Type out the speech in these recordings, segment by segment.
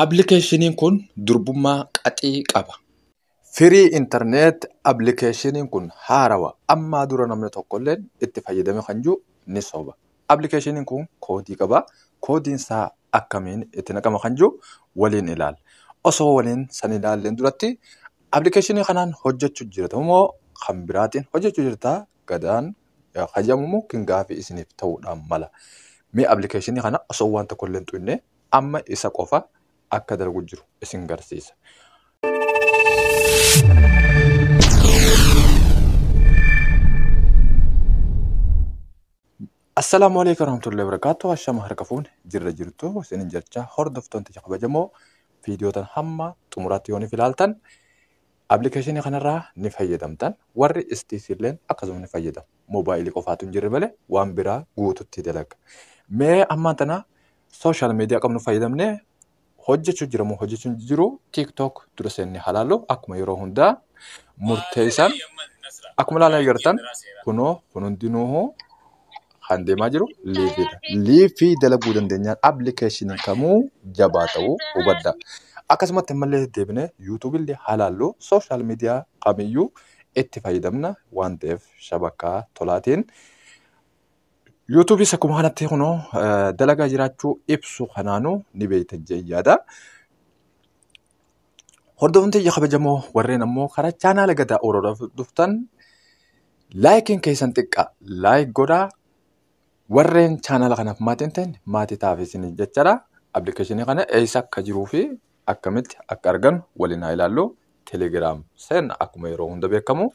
Applikeeshiniin kun durbummaa qaxii qaba. Free internet applikeeshiniin kun haarawa ammaa dura namni tokkolleen itti fayyadame kan jiru ni soba. Applikeeshiniin kun koodii qaba. Koodiin isaa akkamiin itti naqama kan jiru waliin ilaalla. Osoo waliin san ilaalleen duratti applikeeshinii kanaan hojjechuu jirta moo kan biraatiin hojjechuu jirta gadaan hayyamumoo kan gaafii isiniif ta'uudhaan mala. Mee applikeeshinii kana osoo waan tokkolleen xuyne amma isa qofa akka dalgu jiru isin garsiisa. Assalaamu alaikum warahmatullahi wabarakatuh. Ashama harka fuun jirra jirtu isinin jecha hordoftoonni kabajamoo viidiyootan hamma xumuraatti yoonif ilaaltan Application kanarraa ni fayyadamtan warri istiif illeen akkasuma ni fayyadamu moobaayilii qofaatu hin jirre malee waan biraa guututti dalaga mee ammaan tana social media qabnu fayyadamne hojjechuu jira moo hojjechuu hin jiru tiktok dura seennee halaallu akkuma yeroo hundaa murteessan akkuma ilaalaa jirtan kunoo kun hundinuu kan deemaa jiru liifiidha. Liifii dalaguu dandeenyaan appilikeeshiniin kamuu jabaa ta'uu hubadha. Akkasumatti ammallee deebinee yuutuubillee halaallu sooshaal miidiyaa kamiyyuu itti fayyadamna waan ta'eef shabakkaa tolaatiin. Yuutuubis akkuma kanatti kunoo eh, dalagaa jiraachuu ibsu kanaanuu ni beektan jee yaada. Hordoftoota ija kabajamoo warreen ammoo karaa chaanaala gadaa oololaf dhuftan laayikiin keessan xiqqaa laayik godhaa warreen chaanaala kanaaf maatii hin ta'in maatii taaf isin jechaadha. Appilikeeshinii kana eessa akka jiruu fi akkamitti akka argannu waliin haa ilaallu. Telegiraam seenna akkuma yeroo hunda beekamu.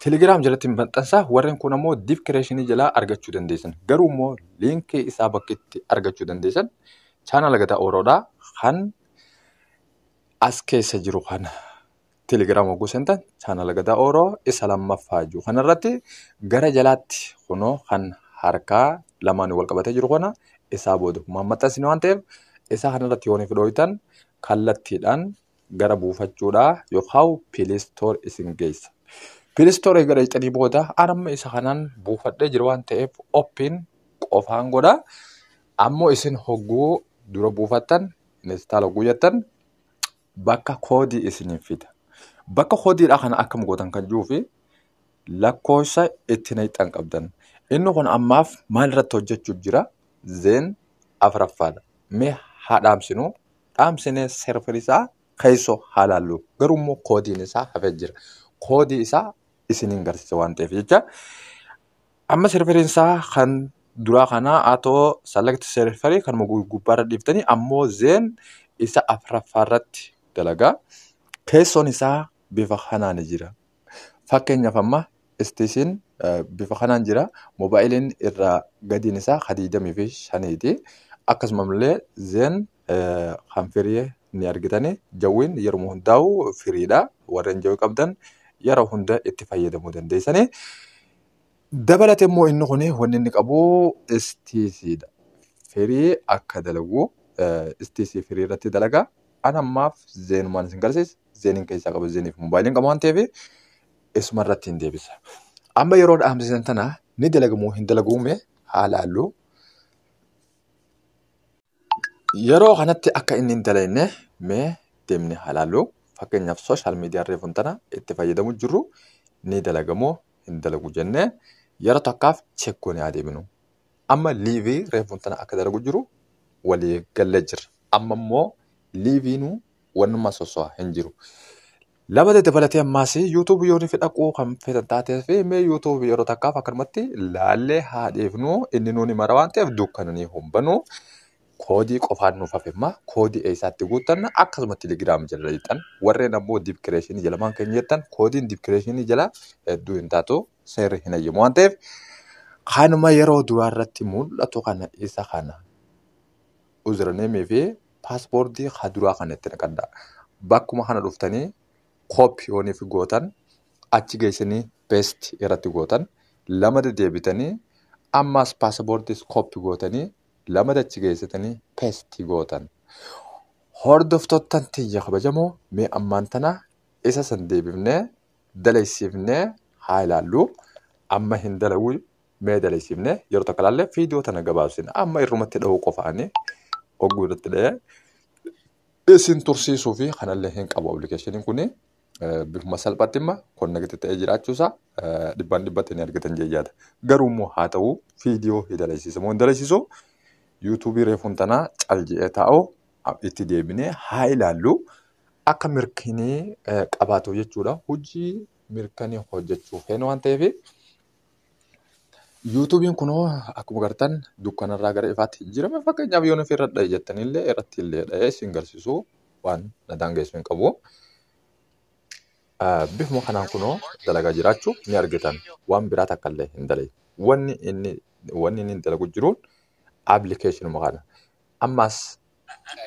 Telegiraam jalatti maxxansaa warreen kun ammoo diskireeshinii jalaa argachuu dandeessan. Garuu immoo liinkii isaa bakki itti argachuu dandeessan chaanaala gadaa ooloodhaa kan as keessa jiru kana telegiraama hogguu seentan chaanala gadaa ooroo isa lammaffaa jiru kanarratti gara jalaatti kunoo kan harkaa lamaan wal qabatee jiru kana isaa booda kumaan maxxansine waan ta'eef isaa kanarratti yooniif dhooytan kallattiidhaan gara buufachuudhaa yookaan piilistoor isin geessa. Piilistoor eegala jettanii booda anamma isa kanaan buufadhee jiru waan ta'eef oppiin qofaan godha. Ammoo isin hogguu dura buufattan install hogguu jettan bakka koodii isiniif fida. Bakka koodiidhaa kana akkam gootan kan jiruu fi lakkoofsa itti naqxan qabdan. Inni kun ammaaf maal irratti hojjechuuf jira? Zeen afraffaadha. Mee haa dhaamsinu. Dhaamsinee serverii isaa keessoo haa laallu. Garuu immoo koodiin isaa hafee jira. Koodii isaa isiniin garsiisa waan ta'eef jecha Amma serveriin isaa kan duraa kanaa atoo select serverii kan gubbaarra dhiiftanii ammoo zeen isa afraffaarratti dalagaa. Teessoon isaa bifa kanaan jira. Fakkeenyaaf amma istiishiin bifa kanaan jira. Moobaayiliin irraa gadiin isaa ka digdamii fi shaniiti. Akkasumallee zeen kan firii ni argitanii. Jawwiin yeruma hundaa'u firiidha. Warreen jawwii qabdan yeroo hunda itti fayyadamuu dandeessanii. Dabalate immoo inni kun wanni inni qabu istiisiidha. Firii akka dalagu istiisii firii irratti dalaga. An ammaaf zeenumaan isin garsiisa. Zeeniin keessaa qaba zeeniif moobaayiliin qaba waan ta'eef isuma irratti hin deebisa. Amma yeroo dhaamsisan tana ni dalagamoo hin dalaguu mee haa laallu. Yeroo kanatti akka inni hin dalagne mee deemne haa ilaallu. Fakkeenyaaf sooshaal miidiyaa reefuun tana itti fayyadamu jirru ni dalagamoo hin dalagu jennee yeroo takkaaf check goonee haa deebinu. Amma liivii reefuun tana akka dalagu jiru walii gallee jirra. Amma immoo liiviinuu wannummaa sosso'a hin jiru. Lama dabalatee ammaas YouTube yoo nuuf dhaquu kan feetan taateef mee YouTube yeroo takkaaf akkanumatti laallee haa dhiifnu inni nuuni mara waan ta'eef dukkananii humbanu koodii qofaan nuuf hafemma koodii eessaatti guuttanna akkasuma Telegram jala lixan warreen ammoo dibkireeshinii jala maan keenya jettan koodiin dibkireeshinii jala hedduu hin taatu seerri hin hayyamu waan ta'eef kanuma yeroo duraa irratti mul'atu kana isa kana username fi passport ha duraa kana itti naqadha bakkuma kana dhuftanii copy yoonif gootan achi geessanii paste irratti gootan lama dedeebitanii ammaas passportis copy gootanii lama achi geessitanii paste gootan hordoftottan tiyya kabajamoo mee ammaan tana isa san deebifnee dalaysiifnee haa ilaallu amma hin dalaguu mee daleessifne yeroo takka ilaalle viidiyoo tana gabaabsina amma irrumatti dhahuu qofaani ogguu irratti dhahee isin tursiisuu fi kanallee hin qabu appilikeeshiniin kun bifuma salphaatti imma konnekti ta'ee jiraachuusaa dhibbaan dhibbatti ni argatan jeejaadha garuu immoo haa ta'u viidiyoo hin daleessisu moo hin daleessisu yuutuubii reefuun tanaa cal je'ee taa'u itti deebinee haa ilaallu akka mirkinii qabaatu jechuudha hojii mirkanii hojjechuu feenu waan ta'eef Yuutuubiin kunoo akkuma gartan dukkanarraa gara ifaatti jijjiirame fakkeenyaaf yoon ofii irra dha'e jettanillee irratti illee dha'ee isin garsiisu waan na daangeessu hin qabu. Ah, Bifuma kanaan kunoo dalagaa jiraachuu ni argitan waan biraa takka illee hin dalagne. Wanni inni wanni inni dalagu jiruun appilikeeshinuma kana. Ammas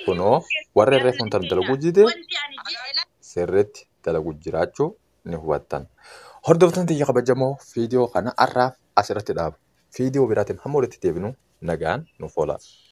kunoo warra irree fuuntan dalaguu dide sirriitti dalaguu jiraachuu ni hubattan. Hordoftoonni tiyya kabajamoo viidiyoo kana har'aaf asirratti dhaaba. Viidiyoo biraatiin hamma walitti deebinu nagaan nuuf oolaa.